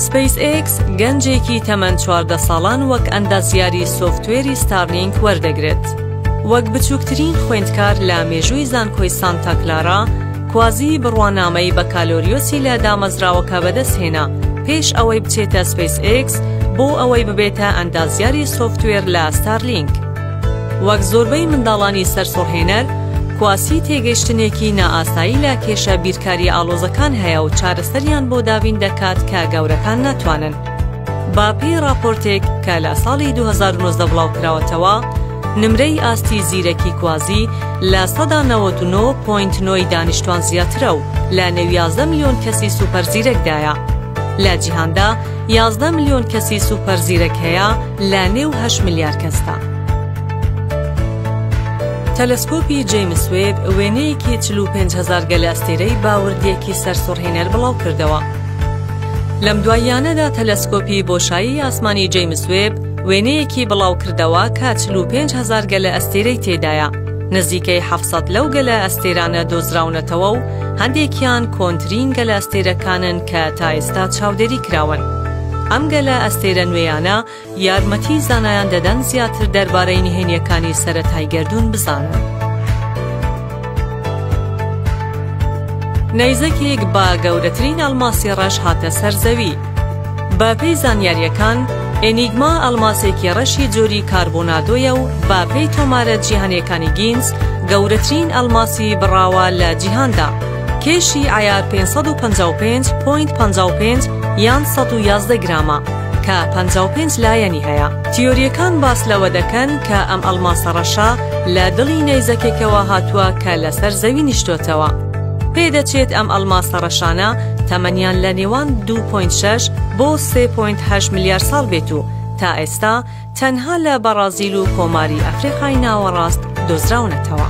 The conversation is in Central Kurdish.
سپەیس ئێکس گەنجێکی تەمەن چواردە ساڵان وەک ئەندازیاری سۆفتوێری ستارلینک وەردەگرێت وەک بچووکترین خوێندکار لە مێژووی زانکۆی سانتاکلارا کوازیی بڕوانامەی بەکالۆریۆسی لە دامەزراوەکە بەدەستهێنا پێش ئەوەی بچێتە سپەیس ئێکس بۆ ئەوەی ببێتە ئەندازیاری سۆفتوێر لە ستارلینک. وەک زۆربەی منداڵانی سەرسوڕهێنەر، کواسی تێگەیشتنێکی نائاسایی لە کێشە بیرکارییە ئاڵۆزەکان هەیە و چارەسەریان بۆ دابین دەکات کە گەورەکان ناتوانن. بە پێی ڕاپۆرتێک کە لە ساڵی دوو هەزار و نۆزدە بڵاوکراوەتەوە، نمرەی ئاستی زیرەکی کوازی لە سەدا نەوەد و نۆ پۆینت نۆ ی دانیشتوان زیاترە و لە نێو یازدە ملیۆن کەسی سوپەر زیرەکدایە. لە جیهاندا یازدە ملیۆن کەسی سوپەر زیرەک هەیە لە نێو هەشت ملیار کەسدا. تەلەسکۆپی جەیمس وێب وێنەیەکی چل و پێنج هەزار گەلەئەستێرەی بە وردییەکی سەرسوڕهێنەر بڵاوکردەوە. لەم دواییانەدا تەلەسکۆپی بۆشایی ئاسمانی جەیمس وێب، وێنەیەکی بڵاوکردەوە کە چل و پێنج هەزار گەلەئەستێرەی تێدایە، نزیکەی حەفت سەد لەو گەلەئەستێرانە دۆزراونەتەوە و هەندێکیان کۆنترین گەلەئەستێرەکانن کە تا ئێستا چاودێری کراون. ئەم گەلەئەستێرە نوێیانە یارمەتی زانایان دەدەن زیاتر دەربارەی نهێنییەکانی سەرەتای گەردوون بزانن. نەیزەکێک بە گەورەترین ئەڵماسی ڕەش هاتە سەر زەوی. بەپێی زانیارییەکان، ئێنیگما ئەڵماسێکی ڕەشی جۆری کاربۆنادۆیە و بەپێی تۆمارە جیهانییەکانی گینس، گەورەترین ئەڵماسی بڕاوە لە جیهاندا، کێشی عەیار پێنج سەد و پەنجا و پێنج پۆینت پەنجا و پێنج یان سەد و یازدە گرامە، کە پەنجا و پێنج لایەنی هەیە. تیۆرییەکان باس لەوە دەکەن کە ئەم ئەڵماسە ڕەشە لە دڵی نەیزەکێکەوە هاتووە کە لەسەر زەوی نیشتۆتەوە. پێدەچێت ئەم ئەڵماسە ڕەشانە تەمەنیان لە نێوان دوو پۆینت شەش بۆ سێ پۆینت هەشت ملیار ساڵ بێت و تا ئێستا تەنها لە بەڕازیل و کۆماری ئەفریقای ناوەڕاست دۆزراونەتەوە.